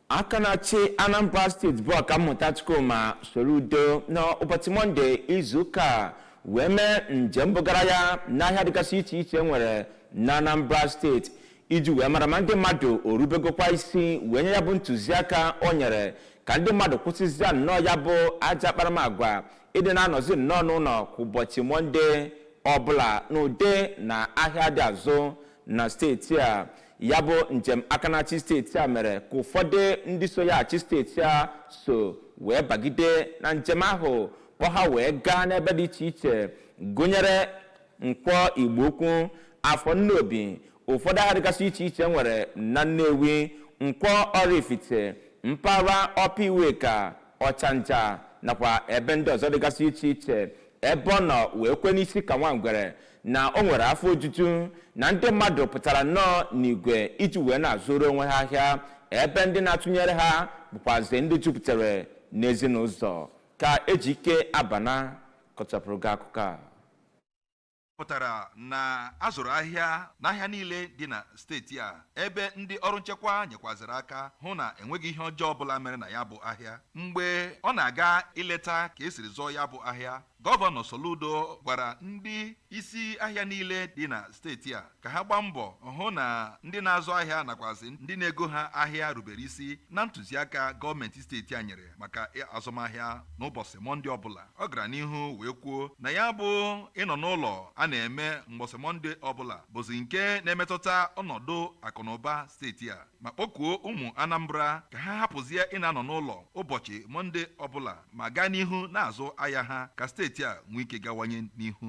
aka na-achị anambra state bụ ọkammụta chukwuma soludo n'ụbọchị mọnde izuụka a wee mee njem bugara ya n'ahịa dịgasị iche iche e nwere na anambra state iji wee mara ma ndị mmadụ orubegokwa isi wee nye ya bụ ntụziaka o nyere ka ndị mmadụ kwụsịzia nnọọ ya bụ ajọ akparamagwa ịdị na-anọzi nnọọ n'ụlọ kwa ụbọchị mọnde ọbụla n'ụdị na ahịa adị azụ na steeti a ya bụ njem aka na-achị steeti a mere ka ụfọdụ ndị so ya achị steeti a so wee bagide na njem ahụ kpọ ha wee gaa n'ebe dị iche iche gụnyere nkwọ igbo ukwu afọ nnobi ụfọdụ ahịa dịgasị iche iche e nwere na nnewi nkwọ oraifite mpaghara upper iweka ọchanja nakwa ebe ndị ọzọ dịgasị iche iche ebe ọ nọ wee kwe n'isi ka nwa ngwere na o nwere afọ ojuju na ndị mmadụ pụtara nnọọ n'igwe iji wee na-azụrụ onwe ha ahịa ebe ndị na-atụnyere ha bụkwazi ndị jupụtara n'ezinụzọ ka ejike abana kọchapụrụ gị akụkọ a pụtara na a zụrụ ahịa n'ahịa niile dị na steeti a ebe ndị ọrụ nchekwa nyekwaziri aka hụ na enweghị ihe ọjọọ ọbụla mere na ya bụ ahịa mgbe ọ na-aga ileta ka esiri zụọ ya bụ ahịa gọvanọ Soludo gwara ndị isi ahịa niile dị na steeti a ka ha gbaa mbọ hụ na ndị na-azụ ahịa nakwazi ndị na-ego ha ahịa rubere isi na ntụziaka gọọmenti steeti a nyere maka azụmahịa n'ụbọchị mọnde ọbụla ọ gara n'ihu wee kwuo na ya bụ ịnọ n'ụlọ a na-eme mgbọsị mọnde ọbụla bụzi nke na-emetụta ọnọdụ akụnụba steeti a ma kpọkuo ụmụ anambra ka ha hapụzie ịna-anọ n'ụlọ ụbọchị mọnde ọbụla ma gaa n'ihu na-azụ ahịa ha ka steeti a nwee ike gawanye n'ihu